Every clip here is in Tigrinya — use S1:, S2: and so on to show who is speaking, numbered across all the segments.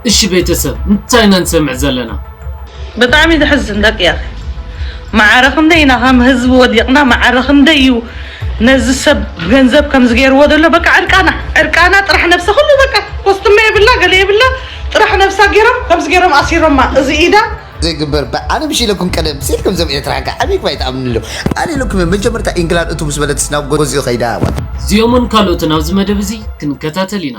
S1: እሺ ቤተሰብ እንታይ ኢና ንሰምዕ ዘለና። ብጣዕሚ
S2: ዘሕዝን ደቂ ያኸ ማዓረ ክንደይ ኢና ከም ህዝቢ ወዲቅና ማዓረ ክንደይ እዩ ነዚ ሰብ ገንዘብ ከምዚ ገይርዎ ዘሎ በቃ ዕርቃና ዕርቃና ጥራሕ ነብሰ ኩሉ በቃ ኮስትመ የብላ ገለ የብላ ጥራሕ ነብሳ ገይሮም ከምዚ ገይሮም ኣሲሮማ እዚ ኢዳ ዘይግበር ባ
S3: ኣነ ምሽ ኢለኩም ቀደም ሴት ከምዞም ኤርትራ ካ ዓብይ ክባይ ትኣምኑ ኣሎ ኣነ ኢለኩም እዮም መጀመርታ ኢንግላንድ እቱ ምስ በለትስ ናብ ጎዝዮ ከይዳ እዚኦምን
S1: ካልኦትን ኣብዚ መደብ እዚ ክንከታተል ኢና።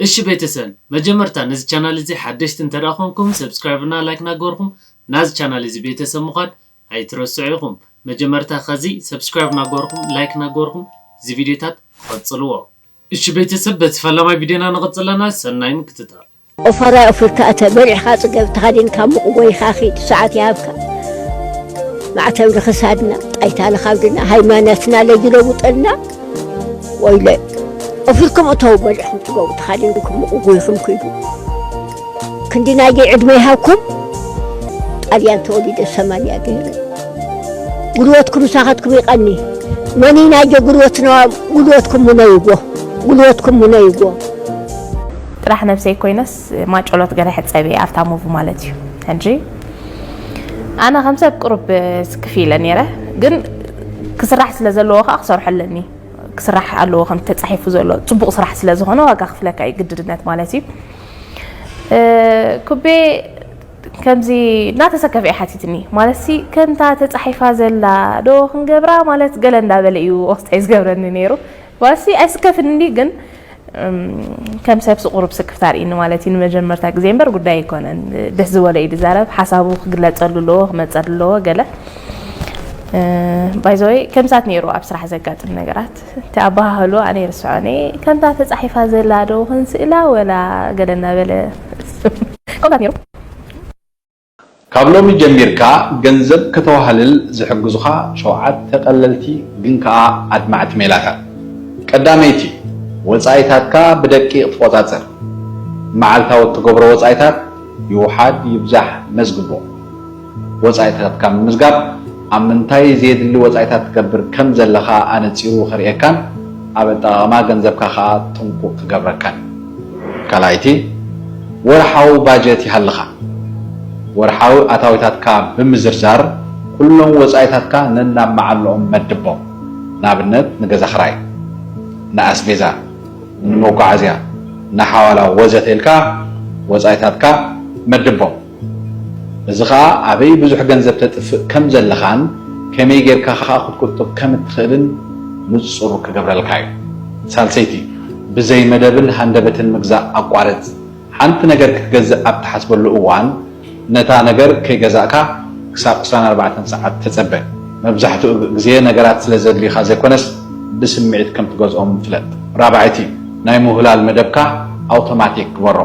S4: እሺ ቤተሰን
S1: መጀመርታ ነዚ ቻናል እዚ ሓደሽቲ እንተድኣ ኮንኩም ሰብስክራይብ እና ላይክ ናገበርኩም ናዚ ቻናል እዚ ቤተሰብ ምኳን ኣይትረስዑ ኢኩም መጀመርታ ከዚ ሰብስክራይብ ናገበርኩም ላይክ ናገበርኩም እዚ ቪድዮታት ቐጽልዎ እሺ ቤተሰብ በቲ ፈላማይ ቪድዮና ንቕጽል ኣለና ሰናይ ምክትታል። ኦፋራይ ኦፊርካ
S5: እተ በሊዕካ ጽገብ ተኸዲንካ ሙቕ ጎይኻ ኺድ ሰዓት ይሃብካ ማዕተብ ንኽሳድና ጣይታ ንኻብድና ሃይማኖትና ለጅለውጠልና ወይለይ እፍልኩም እተው በልዕኹም ትገቡ ተኻዲንኩም ምቑጉይኹም ክዱ ክንዲ ናይዚ ዕድመ ይሃብኩም ጣልያን ተወሊደ ሰማንያ ገይረ ጉልበትኩም ምሳኻትኩም ይቐኒ መኒ ናይጆ ጉልበትና ጉልበትኩም ሙነይጎ ጉልበትኩም ሙነይጎ
S6: ጥራሕ ነብሰይ ኮይነስ ማጨሎት ገለ ሕጸብ እየ ኣብታ ሙቭ ማለት እዩ ሕጂ ኣነ ከም ሰብ ቅሩብ ስክፍ ኢለ ነይረ ግን ክስራሕ ስለ ዘለዎ ከዓ ክሰርሖ ኣለኒ ክስራሕ ኣለዎ ከም ተጻሒፉ ዘሎ ጽቡቕ ስራሕ ስለ ዝኾነ ዋጋ ክፍለካ እዩ ግድድነት ማለት እዩ ኩቤ ከምዚ እናተሰከፈ እዩ ሓቲትኒ ማለት ሲ ከምታ ተጻሒፋ ዘላ ዶ ክንገብራ ማለት ገለ እንዳበለ እዩ ወስጠይ ዝገብረኒ ነይሩ ዋሲ ኣይስከፍን እንድዩ ግን ከም ሰብ ስቑሩብ ስክፍታ ኣርእኒ ማለት እዩ ንመጀመርታ ግዜ እምበር ጉዳይ ኣይኮነን ደስ ዝበሎ እዩ ዝዛረብ ሓሳቡ ክግለፀሉ ኣለዎ ክመፀሉ ኣለዎ ገለ ባይዘወይ ከምሳት ነይሩ ኣብ ስራሕ ዘጋጥም ነገራት እቲ ኣባሃህሉ ኣነ ይርስዖ ነ ከምታ ተፃሒፋ ዘላ ዶ ክንስእላ ወላ ገለ እናበለ ከምታት ነይሩ ካብ
S7: ሎሚ ጀሚርካ ገንዘብ ከተዋህልል ዝሕግዙኻ ሸውዓተ ቀለልቲ ግን ከኣ ኣድማዕቲ ሜላታት። ቀዳመይቲ፣ ወጻኢታትካ ብደቂቕ ትቖጻጸር። መዓልታዊ እትገብሮ ወጻኢታት ይውሓድ ይብዛሕ መዝግቦ። ወጻኢታትካ ምምዝጋብ ኣብ ምንታይ ዘየድሊ ወጻኢታት ትገብር ከም ዘለኻ ኣነጺሩ ከርእየካን ኣብ ኣጠቓቕማ ገንዘብካ ከኣ ጥንቁቕ ክገብረካን እዩ። ካልኣይቲ፣ ወርሓዊ ባጀት ይሃልኻ። ወርሓዊ ኣታዊታትካ ብምዝርዛር ኩሎም ወጻኢታትካ ነናብ መዓልኦም መድቦም። ንኣብነት ንገዛ ክራይ፣ ንኣስቤዛ፣ ንመጓዓዝያ፣ ንሓዋላ ወዘተ ኢልካ ወጻኢታትካ መድቦም። እዚ ኸኣ ኣበይ ብዙሕ ገንዘብ ተጥፍእ ከም ዘለኻን ከመይ ጌርካ ኸኣ ክትቁጥብ ከም እትኽእልን ንጹር ክገብረልካ እዩ። ሳልሰይቲ፣ ብዘይ መደብን ሃንደበትን ምግዛእ ኣቋርጽ። ሓንቲ ነገር ክትገዝእ ኣብ እትሓስበሉ እዋን፣ ነታ ነገር ከይገዛእካ ክሳብ ዕስራን ኣርባዕተን ሰዓት ተጸበ። መብዛሕትኡ ግዜ ነገራት ስለ ዘድልዩኻ ዘይኰነስ ብስምዒት ከም እትገዝኦም ፍለጥ። ራብዐይቲ፣ ናይ ምውህላል መደብካ ኣውቶማቲክ ግበሮ።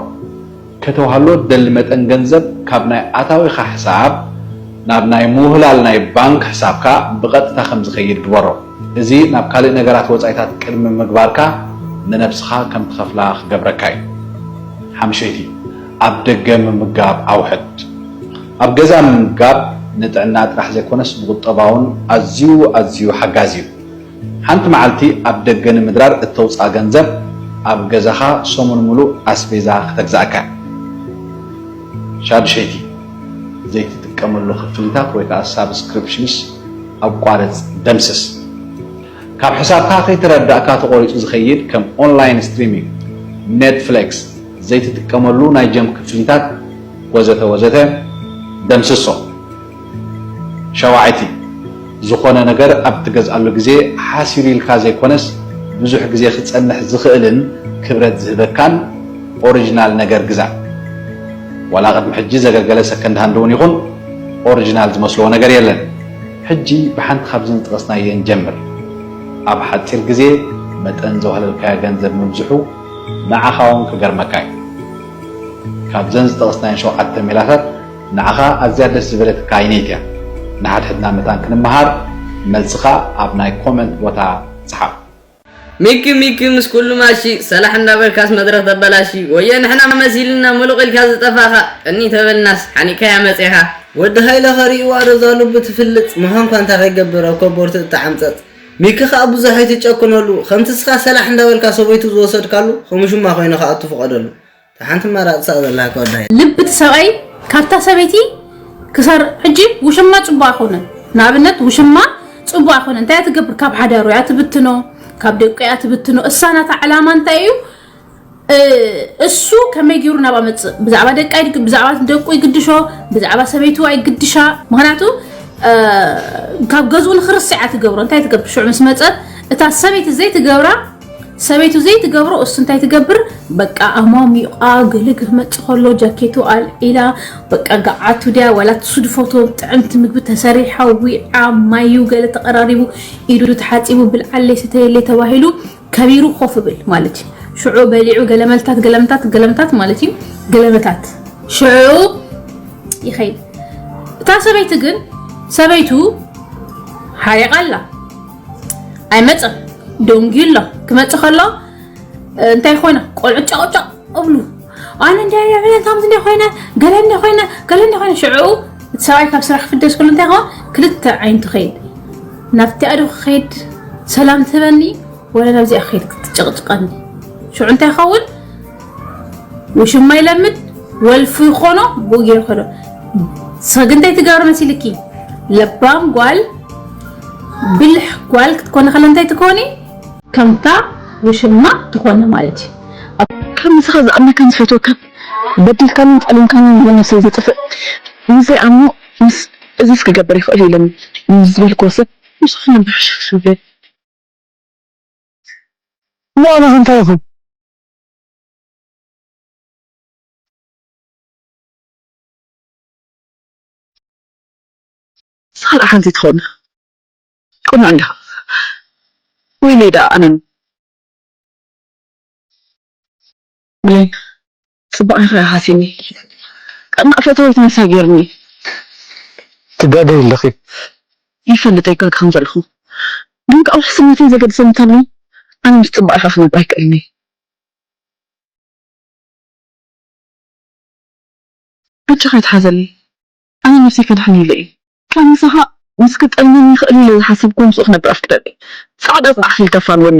S7: ከተውሃሎ እትደሊ መጠን ገንዘብ ካብ ናይ ኣታዊኻ ሕሳብ ናብ ናይ ምውህላል ናይ ባንክ ሕሳብካ ብቐጥታ ከም ዝኸይድ ግበሮ። እዚ ናብ ካልእ ነገራት ወጻኢታት ቅድሚ ምግባርካ ንነብስኻ ከም ትኸፍላ ክገብረካ እዩ። ሓምሸይቲ፣ ኣብ ደገ ምምጋብ ኣውሕድ። ኣብ ገዛ ምምጋብ ንጥዕና ጥራሕ ዘይኮነስ ንቑጠባውን ኣዝዩ ኣዝዩ ሓጋዚ እዩ። ሓንቲ መዓልቲ ኣብ ደገ ንምድራር እተውጽኣ ገንዘብ ኣብ ገዛኻ ሰሙን ምሉእ ኣስቤዛ ክተግዝኣካ እያ። ሻድሸይቲ፣ ዘይትጥቀመሉ ክፍሊታት ወይ ከኣ ሳብስክሪፕሽንስ ኣቋርጽ፣ ደምስስ። ካብ ሕሳብካ ከይተረዳእካ ተቖሪጹ ዝኸይድ ከም ኦንላይን ስትሪሚንግ፣ ኔትፍሌክስ፣ ዘይትጥቀመሉ ናይ ጀም ክፍሊታት ወዘተ ወዘተ ደምስሶም። ሻውዓይቲ፣ ዝኾነ ነገር ኣብ እትገዝኣሉ ግዜ ሓሲሩ ኢልካ ዘይኮነስ ብዙሕ ግዜ ክጸንሕ ዝኽእልን ክብረት ዝህበካን ኦሪጅናል ነገር ግዛእ። ዋላ ቅድሚ ሕጂ ዘገልገለ ሰከንድ ሃንድ እውን ይኹን ኦሪጅናል ዝመስሎ ነገር የለን። ሕጂ ብሓንቲ ካብዘን ዝጠቐስናየን ጀምር። ኣብ ሓጺር ግዜ መጠን ዘዋህለልካዮ ገንዘብ ምብዝሑ ንዓኻውን ክገርመካ እዩ። ካብዘን ዝጠቐስናየን ሸውዓተ ሜላታት ንዓኻ ኣዝያ ደስ ዝበለትካ ይኔት እያ ንሓድሕድና መታን ክንመሃር መልስኻ ኣብ ናይ ኮመንት ቦታ ጽሓፍ። ሚኪ
S8: ሚኪ ምስ ኩሉ ማሺ ሰላሕ እንዳበልካስ መድረኽ ተበላሺ ወየ ንሕና መሲልና ሙሉቕ ኢልካ ዝጠፋኻ ቅንይ ተበልናስ ሓኒእካያ መጼኻ። ወዲ ሃይለ ከሪእዋ ዶ እዛ ሉቢ ትፍልጽ ምዃንኳ እንታይ ከይገብር ኣብ ኮቦርቱ እተዓምጸጽ ሚኪ ከኣ ብዙሕ ኣይትጨክነሉ ከምቲ እስኻ ሰላሕ እንዳበልካ ሰበይቱ ዝወሰድካሉ ኸምሹማ ኮይኑ ክኣቱ ፍቐደሉ ሓንቲ መራፅ ሳእ ዘለካ ወዳ ልቢ እቲ ሰብኣይ
S9: ካብታ ሰበይቲ ክሰር ሕጂ ውሽማ ፅቡቅ ኣይኮነን ንኣብነት ውሽማ ፅቡቅ ኣይኮነን እንታይ ትገብር ካብ ሓዳሩ እያ ትብትኖ ካብ ደቁ እያ ትብትኖ እሳ ናታ ዕላማ እንታይ እዩ እሱ ከመይ ገይሩ ናብ ኣመፅእ ብዛዕባ ደቂ ብዛዕባ ደቁ ይግድሾ ብዛዕባ ሰበይቱ ኣይግድሻ ምክንያቱ ካብ ገዝኡ ንክርስዕ ትገብሮ እንታይ ትገብር ሽዑ ምስ መፀት እታ ሰበይቲ ዘይትገብራ ሰበይቱ ዘይትገብሮ እሱ እንታይ ትገብር በቃ ኣሟሚቋ ግሊ ክትመፅእ ከሎ ጃኬቱ ኣልዒላ በቃ ገዓቱ ድያ ዋላ ትሱድፎቶ ጥዕምቲ ምግቢ ተሰሪሓ ዊዓ ማዩ ገለ ተቐራሪቡ ኢዱ ተሓፂቡ ብልዓለይ ስተየለይ ተባሂሉ ከቢሩ ኮፍ ብል ማለት እዩ ሽዑ በሊዑ ገለመልታት ገለምታት ገለምታት ማለት እዩ ገለመታት ሽዑ ይኸይድ እታ ሰበይቲ ግን ሰበይቱ ሓሪቓ ኣላ ኣይመፅን ደንጊዩ ኣሎ ክመፅ ከሎ እንታይ ኮይነ ቆልዑ ጨቕጨቕ እብሉ ኣነ እንታይ ዕብለን ከምዚ እንደ ኮይነ ገለ እንደ ኮይነ ገለ እንደ ኮይነ ሽዕኡ እቲ ሰብኣይ ካብ ስራሕ ክፍደስ ከሎ እንታይ ከውን ክልተ ዓይነቱ ከይድ ናብቲ ኣዶ ክኸይድ ሰላም ትህበኒ ወላ ናብዚኣ ክኸይድ ክትጨቕጭቐኒ ሽዑ እንታይ ይኸውን ውሽማ ይለምድ ወልፉ ይኾኖ ብኡ ገይሩ ከዶ ሰግንተይ ትገብሪ መሲልኪ ለባም ጓል ብልሕ ጓል ክትኮነ ከለ እንታይ ትኮኒ ከምታ ውሽማ ትኾነ ማለት እዩ ከምዚ
S10: ከ ዝኣምነካን ዝፈትወካን በዲልካንን ጸሊምካንን ይሆን ነብሰይ ዘጥፍእ ምስ ዘይኣምኖ ምስ እዝስ ክገብር ይኽእል ኢለ ምስ ዝበልክዎ ሰብ ምስኡ ክነብር ሕሹኽሹኽ ይብል እሞ ኣነ ከ እንታይ ይኹን ሳላ ሓንቲ ትኾን ቁኑዕ እንዲኻ ወይነይ ዳኣ ኣነ ን ብሌን ፅባቀ ኢኻ ሃሲኒ ቀናእ ፈተወይቲ ንሳ ጌርኒ።
S11: ትጋገይ ኣለኺ ይፈልጥ
S10: ይጋገ ከም ዘለኹ ግን ከኣ ውሕስነተይ ዘገድሰኒ እንተሎ ኣነ ምስ ጽባቐኻ ክነብር ኣይክእልን እየ። በጃኻ ኣይትሓዘኒ ኣነ ነብሰይ ከድሕን ኢለ እየ። ካብ ምሳኻ ምስ ክጠልመኒ ይኽእል ኢለ ዝሓሰብክዎ ምስኡ ክነብር ኣፍቅደለይ ጻዕዳ ጻዕሕ ኢልካ ኣፋንወኒ።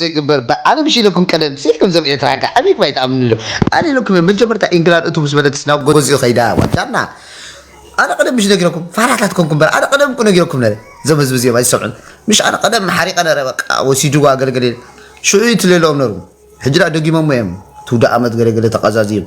S3: ዘይግበር ብዓለም እሺ ኢለኩም ቀደም ሲልኩም ዞም ኤርትራ ከ ኣበይ ባይ ትኣምኑ ዶ ኣነ ኢለኩም እየ መጀመርታ ኢንግላድ እትው ምስ በለትስ ናብ ጎዝዩ ከይዳ ጓል ጃና ኣነ ቀደም ምሽ ነጊረኩም ፋራታት ኮንኩም በር ኣነ ቀደም እኮ ነጊረኩም ነረ ዞም ህዝቢ እዚኦም ኣይሰምዑን ምሽ ኣነ ቀደም ሓሪቀ ነረ በቃ ወሲድዋ ገለገለ ሽዑ እዩ ትሌለኦም ነሩ ሕጂ ድኣ ደጊሞሞ እዮም ትውደኣመት ገለገለ ተቃዛዝዩም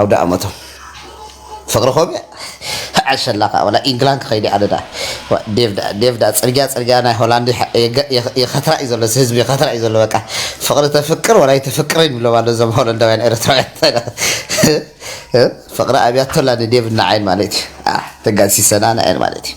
S3: ኣውዳኣመቶም ፍቅሪ ኮሜ ዓሸላ ከኣ ወላ ኢንግላን ክኸይድ ኣነ ደኣ ዋ ዴቭ ደኣ ዴቭ ደኣ ጽርግያ ጽርግያ ናይ ሆላንድ ይሓ- የገ- የኸ- የኸትራ እዩ ዘሎ እዚ ህዝቢ የኸትራ እዩ ዘሎ በቃ ፍቅሪ ተፍቅር ወላ ኣይተፍቅርን ይብሎም ኣሎ እዞም ሆለንዳውያን ኤርትራውያን እንታይ ደኣ እ? ፍቅሪ ኣብያቶላ ንዴቭ ንዓይን ማለት እዩ ኣ ተጋሲሰና ንዓይን ማለት እዩ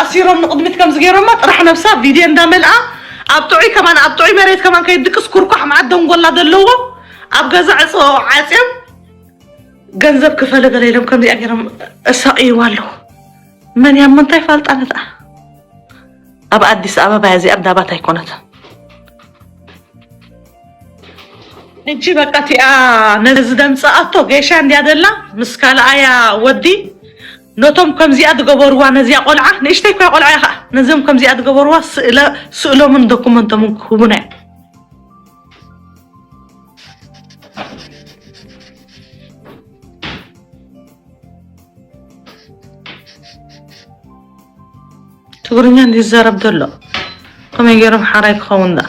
S2: ኣሲሮም ንቅድሚት ከምዚ ገይሮማ ጥራሕ ነብሳ ቪድዬ እንዳ መልኣ ኣብ ጥዑይ ከማን ኣብ ጥዑይ መሬት ከማን ከይድቅስ ኩርኳሕ መዓት ደንጎላ ዘለዎ ኣብ ገዛ ዕጽ ዓጽዮም ገንዘብ ክፈለ ገለ ኢሎም ከምዚኣ ገይሮም እሳቅይዋ ኣለዉ መን እያ እሞ እንታይ ፋልጣ ነትኣ ኣብ ኣዲስ ኣበባ እያ እዚኣ እንዳባት ኣይኮነትን እጂ በቃ እቲኣ ነዚ ደምፅኣቶ ጌሻ እንድያ ደላ ምስ ካልኣያ ወዲ ነቶም ከምዚኣ ዝገበርዋ ነዚኣ ቆልዓ ንእሽተይ እኳ ቆልዓ እያ ከኣ ነዞም ከምዚኣ ዝገበርዋ ስእለ ስእሎምን ዶኩመንቶምን ክህቡና እዮም። ትግርኛ እንዲዩ ዝዛረብ ዘሎ ከመይ ገይሮም ሓራይ ክኸውን ደኣ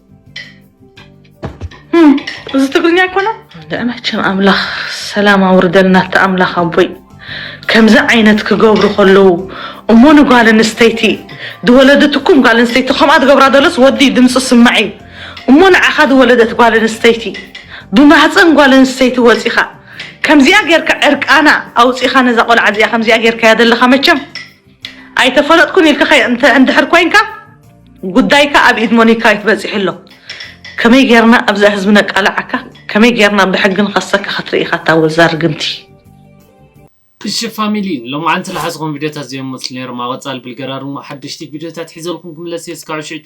S2: እዚ ትግርኛ ይኮነ ንዕመቸም ኣምላኽ ሰላም ኣውርደልና እቲ ኣምላኽ ኣቦይ ከምዚ ዓይነት ክገብሩ ከለዉ እሞ ንጓል ኣንስተይቲ ዝወለደትኩም ጓል ኣንስተይቲ ከምኣ ዝገብራ ዘለስ ወዲ ድምፂ ስማዕ እዩ እሞ ንዓኻ ዝወለደት ጓል ኣንስተይቲ ብማህፀን ጓል ኣንስተይቲ ወፂኻ ከምዚኣ ጌርካ ዕርቃና ኣውፂኻ ነዛ ቆልዓ እዚኣ ከምዚኣ ጌርካያ ዘለኻ መቸም ኣይተፈለጥኩን ኢልካ ከ- እንድሕር ኮንካ ጉዳይካ ኣብ ኢድ ሞኒካ እዩ በፂሑ ኣሎ ከመይ ጌርና ኣብዛ ህዝቢ ነቃልዓካ ከመይ ጌርና ብሕጊ ንኸሰካ ክትርኢ ኢኻ እታ ወዛ ርግምቲ
S1: እሺ ፋሚሊ ሎማዓንቲ ልሓዝኹም ቪድዮታት ዘየሞት ነይሮም ኣብ ቐፃሊ ብልገራርሞ ሓደሽቲ ቪድዮታት ሒዘልኩም ክምለስ እየ እስካዕ ሽዕቱ